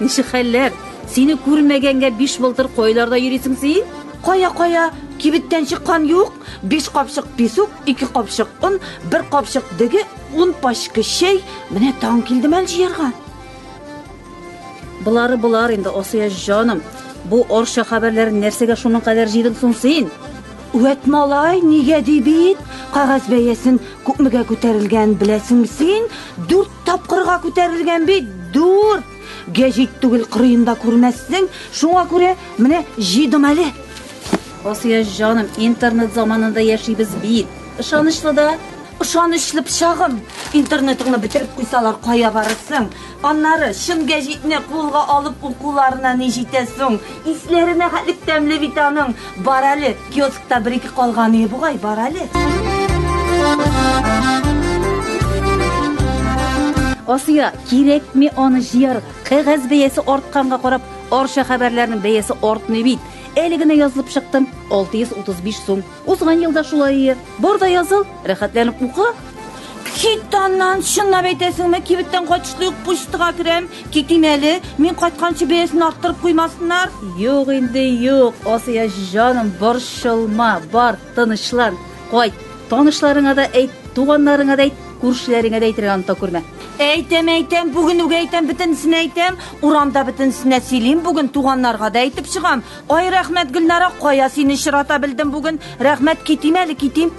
Ничек хәлләр? Сине күрмәгәнгә биш былтыр кайларда йөрисең син? Кая-кая, кибеттән чыккан юк. Биш капчык песок, ике капчык он, бер капчык деге, ун пачка чәй. Менә таң килде мәл җыярга. Болары болар инде, Асия җаным. Бу орша хәбәрләрен нәрсәгә шуның кадәр җыйдың соң син? Үәт малай, нигә ди бит, кагаз бәясен күпмегә күтәрелгән беләсең син, дүрт Тапкырга күтәрелгән бит, дур! Гәҗит түгел кырыенда күрмәссең, шуңа күрә менә җыйдым әле. Асия җаным, интернет заманында яшибез бит. Ышанычлы да. Ышанычлы пычагым, интернетыңны бетереп куйсалар кая барырсың? Аннары чын гәҗитне кулга алып укуларына ни җитә соң? Исләренә хәтлек тәмле бит аның. Бар әле, Киоскта бер-ике калган өе бугай бар әле. Асия, кирәкми аны җыярга. Кәгазь бәясе артканга карап, Арча хәбәрләренең бәясе артмый бит. Әле генә язылып чыктым, 635 сум. Узган елда шулай ие. Бар да языл, рәхәтләнеп укы. Кит аннан, чынлап әйтәсеңме, кибеттән кайтышлый ук почтага керәм. Китим әле, мин кайтканчы бәясен арттырып куймасыннар. Юк инде, юк, Асия җаным, борчылма, бар, тынычлан, кайт. Танышларыңа да әйт, туганнарыңа да әйт, күршеләреңә дә әйтергә оныта күрмә. Әйтәм, әйтәм, бүген үк әйтәм, бөтенесенә әйтәм. Урамда бөтенесенә сөйлим, бүген туганнарга да әйтеп чыгам. Ай рәхмәт Гөлнара, кая сине чырата белдем бүген. Рәхмәт, китим әле, китим.